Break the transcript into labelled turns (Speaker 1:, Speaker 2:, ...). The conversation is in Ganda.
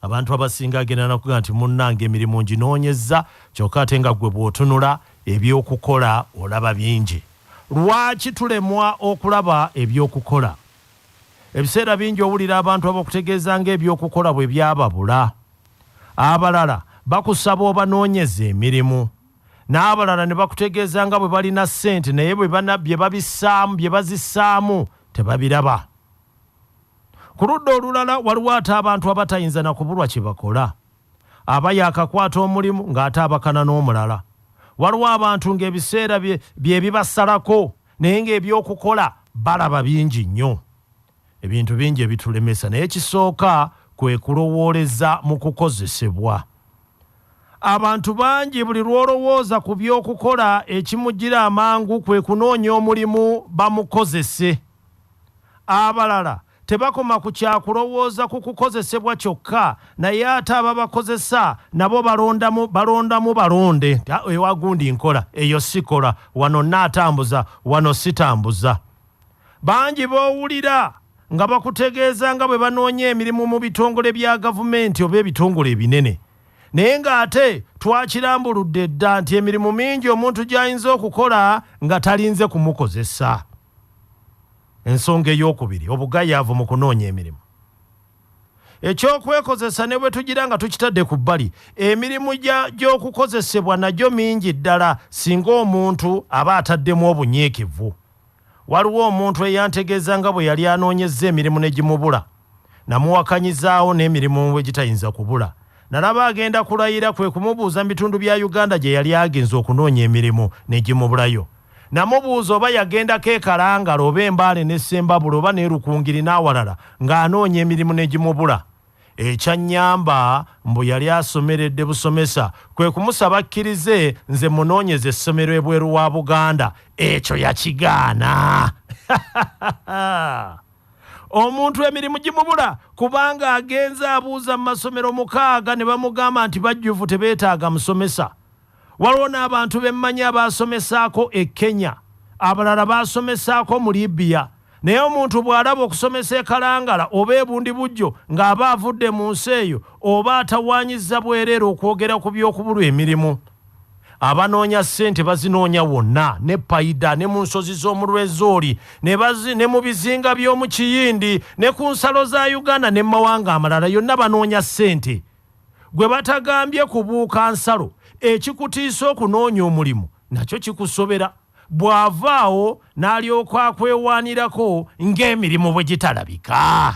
Speaker 1: Abantu abasinga agenda nakuga nti munnange emirimu nginoonyezza kyokka ate nga ggwe bw'otunula eby'okukola olaba bingi. Lwaki tulemwa okulaba eby'okukola? Ebiseera bingi owulira abantu abakutegeeza ng'eby'okukola bwe byababula. Abalala bakusaba obanoonyeze emirimu n'abalala ne bakutegeeza nga bwe balina ssente naye bye bazissaamu tebabiraba. Ku ludda olulala waliwo ate abantu abatayinza na kubulwa kye bakola. Aba yaakakwata omulimu ng'ate abakana n'omulala. Waliwo abantu ng'ebiseera bye bibasalako naye ng'eby'okukola balaba bingi nnyo. Ebintu bingi ebitulemesa naye ekisooka kwe kulowooleza mu kukozesebwa. Abantu bangi buli lw'olowooza ku by'okukola ekimujjira amangu kwe kunoonya omulimu bamukozese. Abalala tebakoma ku kya kulowooza ku kukozesebwa kyokka naye ate ababakozesa nabo balondamu balondamu balonde nti ah, ewa gundi nkola eyo sikola wano naatambuza wano sitambuza bangi b'owulira nga bakutegeeza nga bwe banoonya emirimu mu bitongole bya gavumenti oba ebitongole ebinene naye ng'ate twakirambuludde dda nti emirimu mingi omuntu gy'ayinza okukola nga talinze kumukozesa Ensonga ey'okubiri, obugayaavu mu kunoonya emirimu. Eky'okwekozesa ne bwe tugira nga tukitadde ku bbali, emirimu gy'okukozesebwa nagyo mingi ddala singa omuntu aba ataddemu obunyiikivu. Waliwo omuntu eyantegeeza nga bwe yali anoonyezza emirimu ne gimubula. Namuwakanyizaawo n'emirimu egitayinza kubula. Nalaba agenda kulayira kwe kumubuuza mu bitundu bya Uganda gye yali agenze okunoonya emirimu ne gimubulayo. Namubuuza oba yagendako e Kalangala oba e Mbale n'e Ssembabule oba n'e Rukungiri n'awalala ng'anoonya emirimu ne gimubula. Ekyannyamba mbu yali asomeredde busomesa kwe kumusaba akkirize nze mmunoonyeze essomero ebweru wa Buganda. Ekyo yakigaana. omuntu emirimu gimubula kubanga agenze abuuza mu masomero mukaaga ne bamugamba nti bajjuvu tebeetaaga musomesa waliwo n'abantu bemmanyi abaasomesaako e kenya abalala baasomesaako mu libiya naye omuntu bw'alaba okusomesa ekalangala oba ebundi bujjo ng'aba avudde mu nsi eyo oba atawaanyizza bwereere okwogera ku by'okubulwa emirimu abanoonya ssente bazinoonya wonna ne payida ne mu nsozi z'omu lwezooli ne mu bizinga by'omu kiyindi ne ku nsalo za uganda ne mumawanga amalala yonna banoonya ssente gwe batagambye kubuuka nsalo ekikutiisa okunoonya omulimu nakyo kikusobera bw'avaawo n'alyoka akwewaanirako ng'emirimu bwe gitalabika